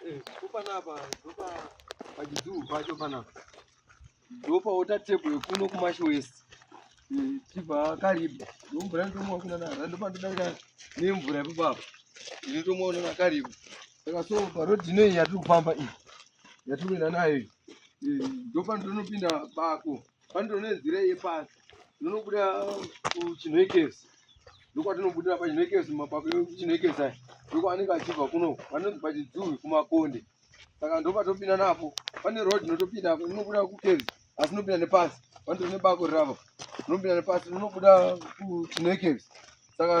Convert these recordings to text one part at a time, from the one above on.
Eh, kupanapa ndopa pachidhuu pacho panapa ndopaota tebho yekuno kumasho west eh, tibva karibu ndomvura ndomwa kuna nara ndopandodarika nemvura ipapapa ini ndomwa una nakaribu saka so parodi inoi yatiri kufamba iyi yatiri kuenda nayo iyi eh, ndopandono pinda bako pandiro nenzira yepasi ndinobuda kuchinhekesi ndokwatinobudira pachinhekesi mapako ekuchinhekesi aya ndokwaanenge achibva kuno vanonzi pachidzuvi kumakonde saka ndopatopinda napo pane road inotopinda apo inobuda kukezi asi inopinda nepasi pandiro nebako rirapa inopinda nepasi inobuda kuchinhekesi saka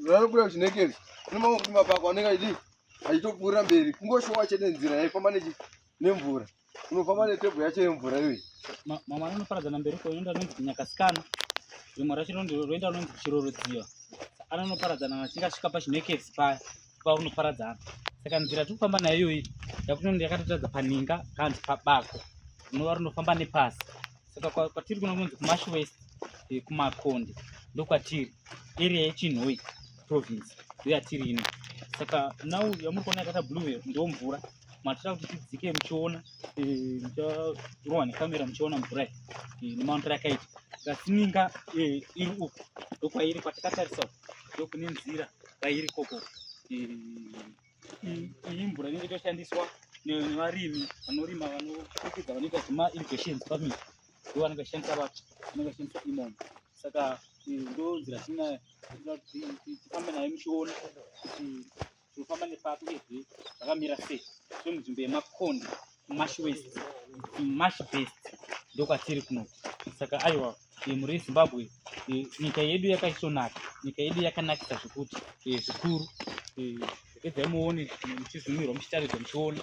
ranobuda kuchinhekesi inomakuti mapako anenge achidii achitopfuurira mberi kungoshowa chete nzira yaifamba nechi nemvura unofamba netebho yacho yemvura iyoyi mama anonoparadzana mberi ko inoenda anonzi kinyakasikana rimwe racho roenda anonzi chirorodziva anonoparadzana achinge asvika pachinekesi paya paunoparadzana saka nzira tiri kufamba nayo iyoyi yakunoenda yakatotaridza paninga kanzi pabako rinova rinofamba nepasi saka kwatiri kuno kunonzi kumash west eh, kumakonde ndokwatiri area yechinhoyi province ndoyatiri ino saka nhau yamuri kuona yakaita blue ndo mvura matira kuti tidzike muchiona eh, mucharohwa nekamera muchiona mvura iyi eh, nemaundi rakaita kasininga eh, iri uku ndokwairi kwatakatarisa ndokune nzira kwairi koko iyi mvura inenge itoshandiswa nevarimi vanorima vanokikidza vanoita zvema irrigations farming ndo vanenge vachishandisa vacho vanenge vachishandisa imomo saka ndo nzira tina tifambe nayo muchiona kuti tinofamba nepato ezvi zvakamira sei so munzvimbo yemakonde mash west mash best ndokwatiri kuno saka aiwa muri yezimbabwe nyika yedu yakaisonaka nyika yedu yakanakisa zvekuti zvikuru edzai muone muchizumirwa muchitaridzwa muchiona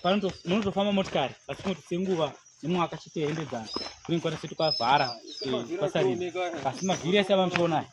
panonotofamba motikari asi kuti senguva nemwaka chitihembedzana kunenge kwatese tukavhara kwasarira asi mavhiri ese avanotionayo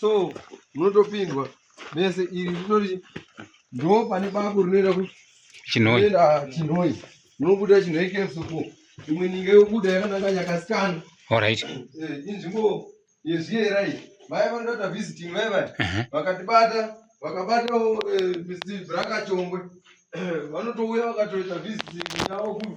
so munotopindwa mese iri rinoti ndo pane bako rinoenda kuchinoenda chinoi munobuda chinoi kemsuku imwe ninga yobuda yakananga nyakasikana orit eh, inzvimbo yezviyera iyi vaya vanoda kuita visiting vaya vaya mhm. vakatibata vakabatawo eh, mr brakachongwe eh, vanotouya vakatoita visiting yavo kuno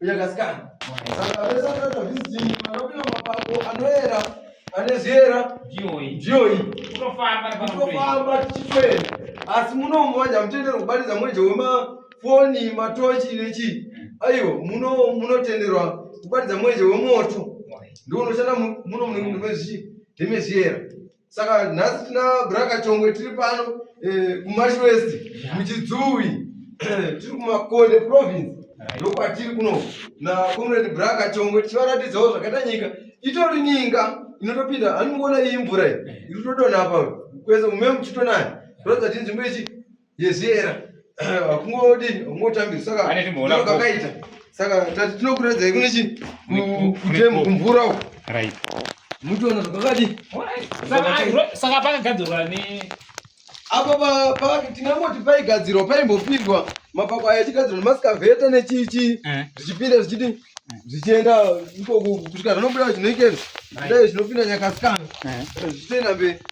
Uyakasikana. Saka vesa tata visiting vanopinda mapango anoera ane zviera ndiyoyi. Ndiyoyi. Kutofamba kutofamba tichifenda. Asi munomu vanja mutendero kubatidza mweje wema foni matochi nechi. Aiwa muno munotenderwa kubatidza mweje wemoto. Ndiwo unoshanda muno munenge mune zvi ndime zviera. Saka nhasi tina Brakachongwe tiri pano eh, kuMash West muChidzuwi tiri kuMakonde province ndokwatiri kuno naComrade Brakachongwe tichivaratidzawo zvakaita nyika itori nyinga inotopinda hanimukona iyi mvura iyi iri kutodonha apa kwese mume muchitonaya kuratidza kuti inzvimbo ichi yezera kungodini kungotambira saka kakaita saka tati tinokuredzai kune chi kutemu kumvura uko right mutoona zvakakadi saka pakagadzirwa ne apo pa tingangoti paigadzirwa paimbopindwa mapako aya achigadzirwa nemaskavheta nechichi eh. zvichipinda zvichiti eh. zvichienda ikoku kusvika zvanobuda zvinoikei zvidai zvinopinda nyakasikana eh. zvichienda mberi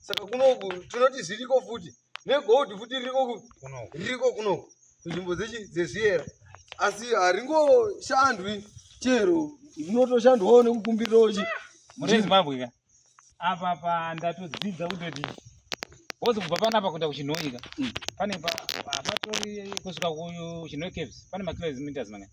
saka kunoku tinoti zviriko futi negold futi ririko ririko kunoku kunzvimbo dzezviyera asi haringoshandwi chero rinotoshandwawo nekukumbirawo chi muri zimbabwe ka apa pa ndatodzidza kutoti wozi kubva panapa kuenda kuchinhoika mm. pane patori kusvika kuchinhoi caves pane makilometers mangani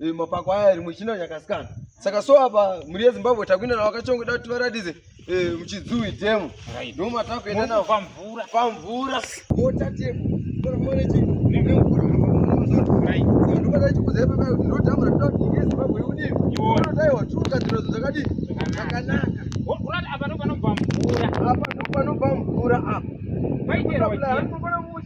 Eh, mapako aya rimwe china nyakasikana saka so apa mhuri yezimbabwe takuenda navo kachongoda kuti varatidze eh, muchidzui demo ndo matakuenda navo pamvura pamvura mota demo apa ndopanobva mvura apa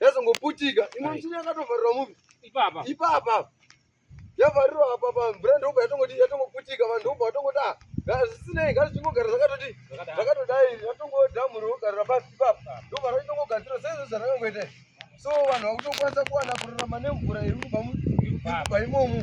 yazongoputika imwe michini yakatovharirwa mupi ipapa ipapa yavharirwa apa pa mvura ndobva yatongoti yatongoputika vanhu ndobva vatongoti a ah, zvisinei ngati zvingogara zvakatoti zvakatodai yatongodhamhuri wogarira pasi ipapa ndobva raitongogadzira saizvo zvarakangoita so vanhu vakutokwanisa kuwana kurarama nemvura iri kubva imomu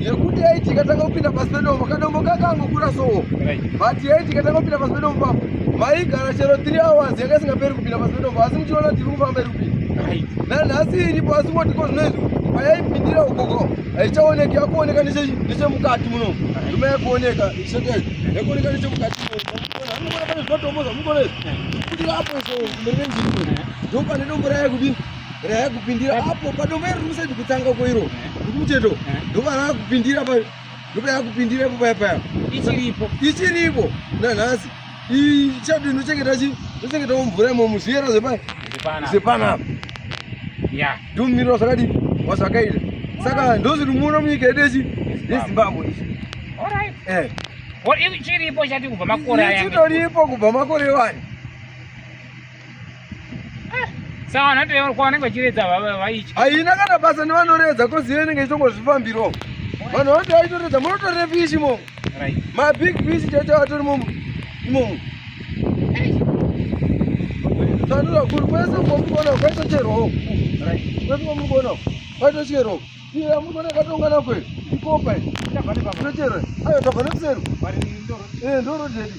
yekuti yaiti ikatanga kupinda pasi pedombo kadombo kakangokura sowo but yaiti ikatanga kupinda pasi pedombo papo maigara chero 3 hours yanga isingaperi kupinda pasi pedombo asi muchiona kuti iri kufamba iri kupinda nanhasi iripo asi moti ko zvinoizvi payaipindira ukoko haichaoneki yakuoneka nechemukati muno ndima yakuoneka isokei yakuoneka nechemukati munoona pane zvinotombo zvamukonezvi kuti vapo iso mberi nenjii ndopane dombo raye kudii rakupindira apo padombo iri rimusati kutanga koiro ndikumucheto eh. ndova rakupindira pa ndopa yakupindira ipo paya paya ichiripo ichiripo nanhasi ichati ndochengeta chi ndochengetawo mvura imomo zviyera zvepa zvepanapa ya ndomirira zvakati wazvakaita saka ndozviri muno munyika yedu yechi yezimbabwe ichi alright eh chiripo chati kubva makore aya chitoripo kubva makore wani haina kana basa nevanoredza kozi iyo inenge ichitongozvifambirawo vanhu vati vaitoredza munotorere fishi imomo mabig fishi chacho atori momo imomo tandura kuri kwese kwomugona kwaita cheroo kwese kwomugona kwaita cheroo iye amugona katongana kwe ikopa ichere ayo tabva nekuseri eh, ndorodedi